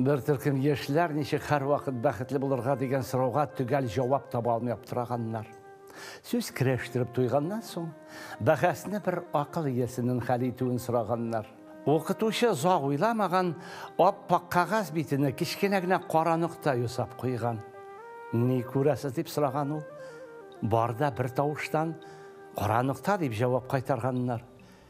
Бер төркем яшьләр ничек һәрвакыт бәхетле булырга дигән сорауга төгәл җавап таба алмый аптыраганнар. Сүз керәштереп туйганнан соң, бәхәсне бер акыл иясенең хәл итүен сораганнар. Укытучы озак уйламаган, ап-ак кәгазь битенә кечкенә генә кара нокта ясап куйган. Ни күрәсез, дип сораган ул. Бар да бертавыштан, Кара нокта, дип җавап кайтарганнар.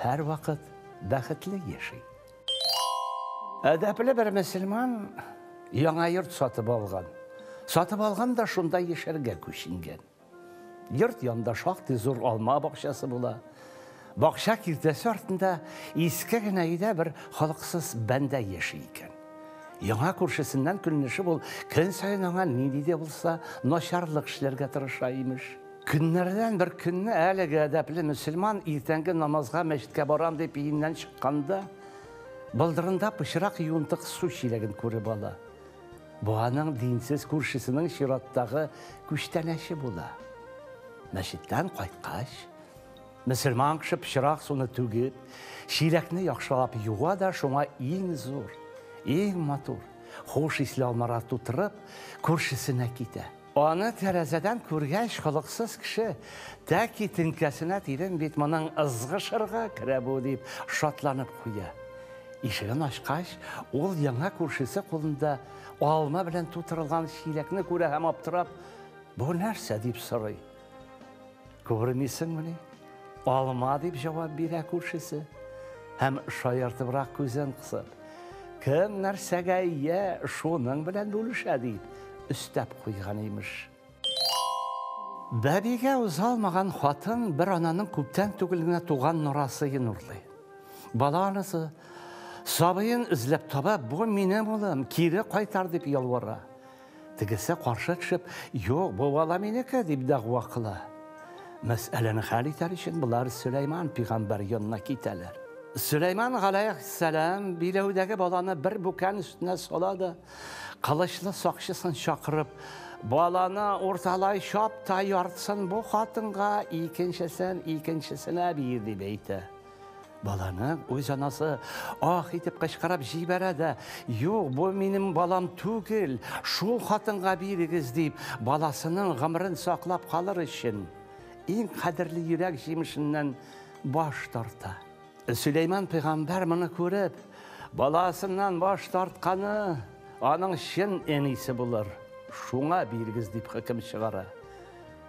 Һәрвакыт бәхетле яши. Әдәпле бер мөселман яңа йорт сатып алган. Сатып алган да шунда яшәргә күченгән. Йорт янында шактый зур алма бакчасы була. Бакча киртәсе артында иске генә өйдә бер халыксыз бәндә яши икән. Яңа күршесеннән көнләшеп ул көн саен аңа нинди дә булса начарлык эшләргә тырыша имеш. Көннәрдән бер көнне әлеге әдәпле мөселман иртәнге намазга мәчеткә барам дип өеннән чыкканда, болдырында пычрак юынтык су чиләген күреп ала. Бу аның динсез күршесенең чираттагы күчтәнәче була. Мәчеттән кайткач, мөселман кеше пычрак суны түгеп, чиләкне яхшылап юа да шуңа иң зур, иң матур, хуш исле алмалар тутырып, күршесенә китә. Аны тәрәзәдән күргәч, холыксыз кеше, тәки теңкәсенә тидем бит, моның ызгышырга керә бу, дип шатланып куя. Ишеген ачкач, ул яңа күршесе кулында алма белән тутырылган чиләкне күрә һәм аптырап, Бу нәрсә? дип сорый. Күрмисеңмени? Алма дип җавап бирә күршесе һәм шаяртыбрак күзен кысып, кем нәрсәгә ия, шуның белән бүлешә дип, өстәп куйган имеш. Бәбигә узалмаган хатын бер ананың күптән түгел генә туган норасын урлый. Бала анысы сабыен эзләп таба, бу минем улым, кире кайтар дип ялвара. Тегесе каршы төшеп, Юк, бу бала минеке, дип дәгъва кыла. Мәсьәләне хәл итәр өчен болар Сөләйман пигамбәр янына китәләр. Сөләйман галәйһиссәлам биләүдәге баланы бер бүкән өстенә сала да, кылычлы сакчысын чакырып, баланы урталай чап та, яртысын бу хатынга, икенчесен икенчесенә бир, дип әйтә. Баланың үз анасы ах итеп кычкырып җибәрә дә, "Юк, бу минем балам түгел, шул хатынга бирегез" дип, баласының гомерен саклап калыр өчен, иң кадерле йөрәк җимешеннән баш тарта. Сөләйман пәйгамбәр моны күреп, баласыннан баш тартканы аның чын әнисе булыр, шуңа бирегез дип хөкем чыгара.